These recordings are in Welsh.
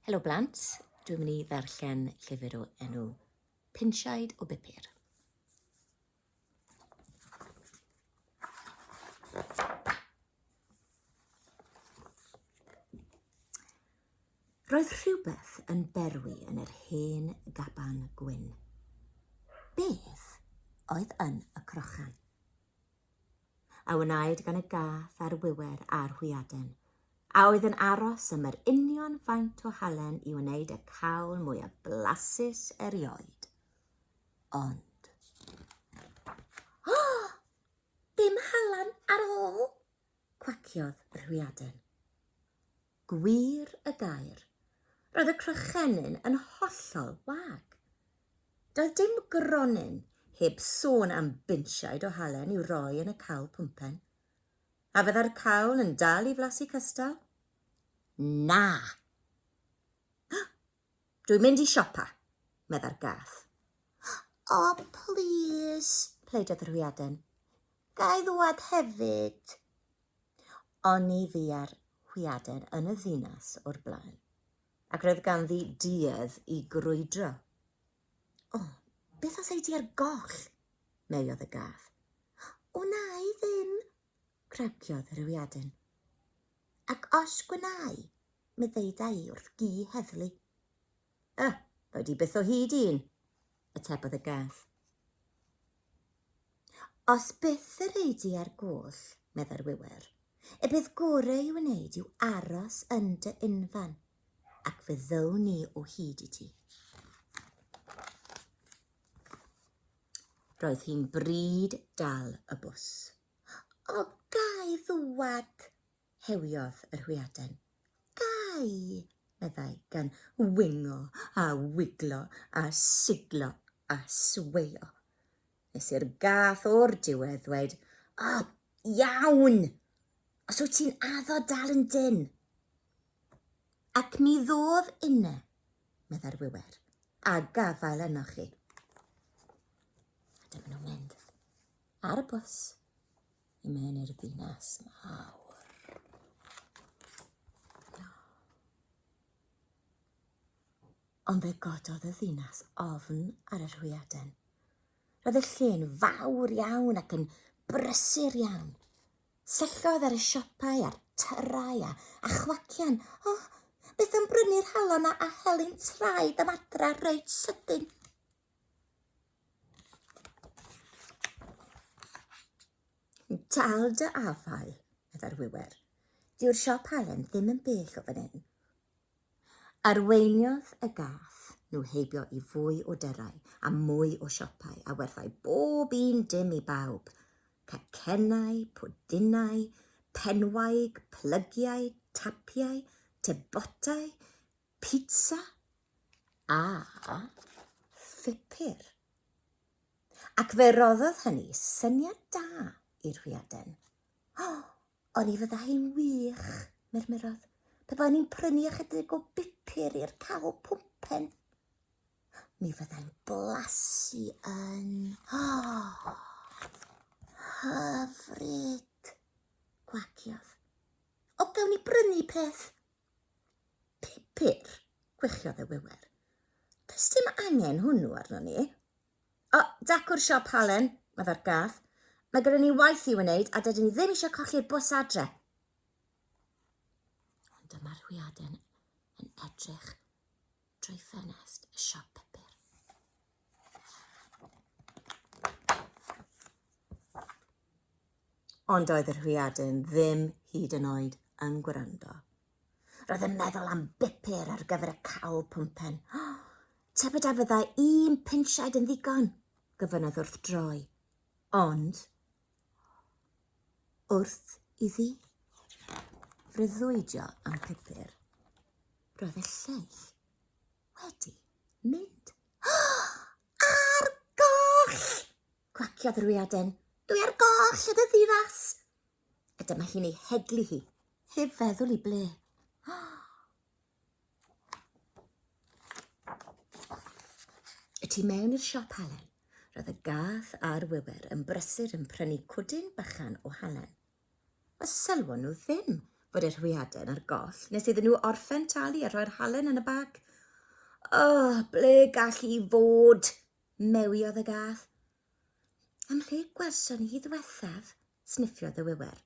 Helo blant, dwi'n mynd i ddarllen llyfr o enw Pinsiaid o Bupur. Roedd rhywbeth yn berwi yn yr hen gaban gwyn. Beth oedd yn y crochan? a wnaed gan y gath a'r wiwer a'r hwyaden, a oedd yn aros am yr union faint o halen i wneud y cawl mwyaf blasus erioed. Ond... Oh! Dim halen ar ôl! cwaciodd yr hwyaden. Gwir y gair, roedd y crychenyn yn hollol wag. Doedd dim gronyn, heb sôn am binsiaid o halen i'w roi yn y cawl pwmpen. A fydda'r cawl yn dal i flasu cystal? Na! Dwi'n mynd i siopa, meddai'r gath. O, plîs, pleidodd yr hwyaden. Ga i ddŵad hefyd? Oni fua'r hwyaden yn y ddinas o'r blaen, ac roedd ganddi duedd i grwydro. O, beth os ei di ar goll? meiodd y gath. Wna i ddim, Cryciodd Rhiwdin. Ac os gwnâi, mi ddeuda i wrth gi heddlu. Y, rhoi di byth o hyd i un, atebodd y gath. Os byth yr ei di ar gwll, meddai'r wiwer, y bydd gore i wneud yw aros yn dy unfan, ac fe ddown ni o hyd i ti. Roedd hi'n bryd dal y bws. O, gai ddwad? hewiodd yr hwyaden. Gai, meddai, gan wingo a wiglo a siglo a sweio. Nes i'r gath o'r diwedd ddweud, O, iawn! Os wyt ti'n addo dal yn dyn. Ac mi ddodd inne, meddai'r wiwer, a gafael ynoch chi. A dyma nhw'n mynd ar y bws i mewn i'r ddinas mawr. No. Ond fe gododd y ddinas ofn ar yr hwyaden. Roedd y lle'n fawr iawn ac yn brysur iawn. Syllodd ar y siopau a'r tyrau a chwacian, O, beth am brynu'r halon a heli'n traed am adra reit sydyn? Dal dy afael, meddai'r wiwer. Dyw'r siop halen ddim yn bell o fan hyn. Arweiniodd y gath nhw heibio i fwy o dyrau a mwy o siopau a werthai bob un dim i bawb, cacennau, pwdinau, penwaig, plygiau, tapiau, tebotau, pizza a phupur. Ac fe roddodd hynny syniad da i'r hwyaden. O! Ond ni fydda hi'n wych, murmurodd. Pe baen ni'n prynu ychydig o bupur i'r cawl pwmpen, mi fyddai'n blasu yn... Oh! Hyfryd! Gwagiodd. O, gawn ni brynu peth? Pupur, gwechiodd y wewer. Does dim angen hwnnw arno ni. O, decwr siop Halen, meddai'r gad. Mae gyda ni waith i'w wneud a dydyn ni ddim eisiau colli'r bws adre. Ond dyma Rhwiaden yn edrych drwy ffenest y siop pupur. Ond oedd yr Rhwiaden ddim hyd yn oed yn gwrando. Roedd yn meddwl am bupur ar gyfer y cawl pwmpen. Tybed a fyddai un pinsiaid yn ddigon? gyfynodd wrth droi. Ond, wrth iddi freuddwydio am pupur, roedd y lleill wedi mynd. Ar goll! Cwaciodd yr wiaden. Dwi ar goll, ydw ddinas. A dyma hi'n ei heglu hi. Heb feddwl i ble. Y tu mewn i'r siop halen, roedd y gath a'r wiwer yn brysur yn prynu cwdyn bychan o halen. A sylwon nhw ddim bod yr hwyaden a'r goll nes iddyn nhw orffen talu a rhoi'r halen yn y bag. Oh, ble gall i fod? Mewiodd y gath. Am lle gwelson ni hi ddiwethaf? sniffiodd y wiwer.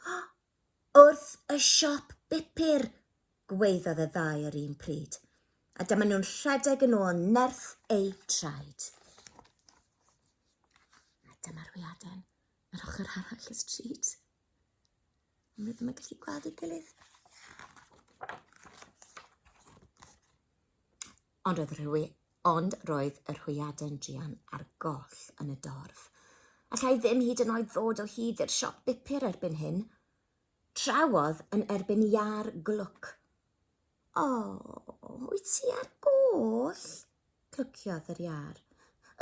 Oh! Wrth y siop bupur! gwaeddodd y ddau yr un pryd, a dyma nhw'n rhedeg yn ôl nerth eu traed. A dyma'r wiaden yr ochr arall y stryd. Ond rydym yn gallu gweld ei gilydd. Ond oedd rhwy, ond roedd yr hwyaden druan ar goll yn y dorf. Allai ddim hyd yn oed ddod o hyd i'r siop bupur erbyn hyn. Trawodd yn erbyn iâr glwc. O, wyt ti ar goll? Clwciodd yr iâr.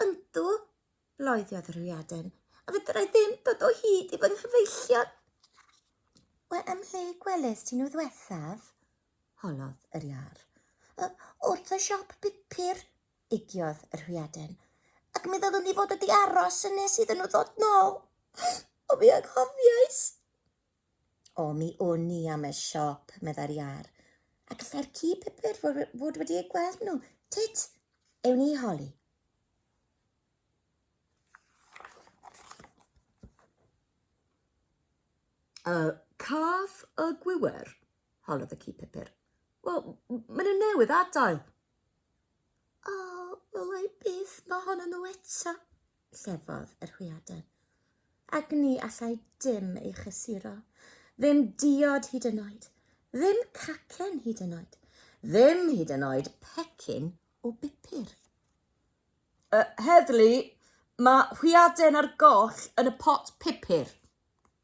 Yndw, loeddiodd yr hwyaden, a fedrai ddim dod o hyd i fy nghyfeillion. Wel, ym mhle gwelest ti nhw ddwethaf? Holodd yr iâr. Yy, wrth y siop bupur, egiodd yr hwyaden. Ac mi ddylwn i fod wedi aros yn nes iddyn nhw ddod nôl. O, mi anghofiais! O, mi wn i am y siop, meddai'r iâr. A gallai'r ci pupur fod wedi eu gweld nhw. Tut, ewn ni i holi. Y caf y gwiwer. Holodd y ci pupur. Wel, maen nhw newydd adael. O, wel ei byth mae hon yn nhw eto, llefodd yr hwyaden. Ac ni allai dim ei chysuro. Ddim diod hyd yn oed. Ddim cacen hyd yn oed. Ddim hyd yn oed pecyn o bupur. Uh, heddlu, mae hwyaden ar goll yn y pot pupur.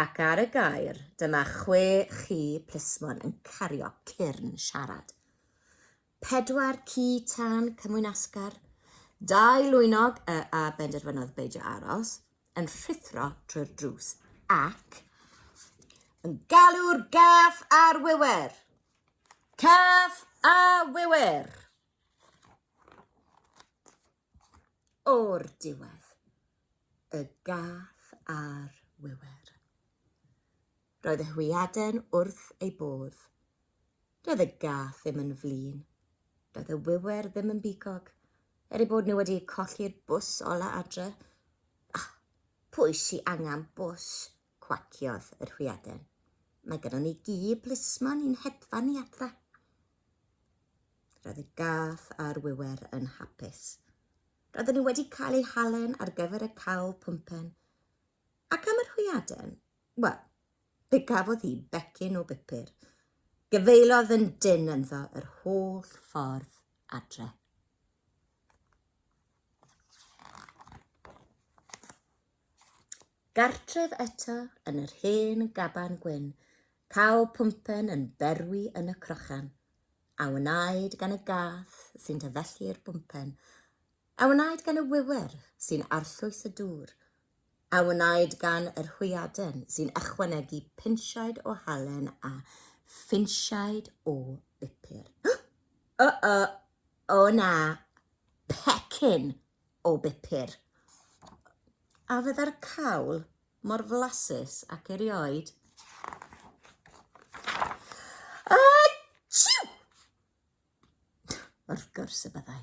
Ac ar y gair, dyma chwe chi plismon yn cario cyrn siarad. Pedwar ci tân cymwynasgar, dau lwynog y a benderfynodd beidio aros, yn rhuthro trwy'r drws ac yn galw'r gath a'r wiwer. Cath a wiwer! O'r diwedd, y gath ar wiwer. Roedd y hwyaden wrth ei bodd. Doedd y gath ddim yn flin. Doedd y wiwer ddim yn bigog, er ei bod nhw wedi colli'r bws ola adre. Ah, pwy sy angen bws? Cwaciodd yr hwyaden. Mae gynnon ni gi plismon i'n hedfan ni adra. Roedd y gath a'r wiwer yn hapus. Roedden nhw wedi cael eu halen ar gyfer y cawl pwmpen. Ac am yr hwyaden? Wel, fe gafodd hi becyn o bupur. Gyfeillodd yn dyn ynddo yr holl ffordd adre. Gartref eto yn yr hen gaban gwyn, caw pwmpen yn berwi yn y crochan, a wnaed gan y gath sy'n tyfellu'r bwmpen, a wnaed gan y wiwer sy'n arllwys y dŵr, a wnaed gan yr hwyaden sy'n ychwanegu pinsiaid o halen a phinsiaid o bupur. O-o! O na! Pecyn! o bupur, a fydda'r cawl mor flasus ac erioed. A chiw! Wrth gwrs y byddai.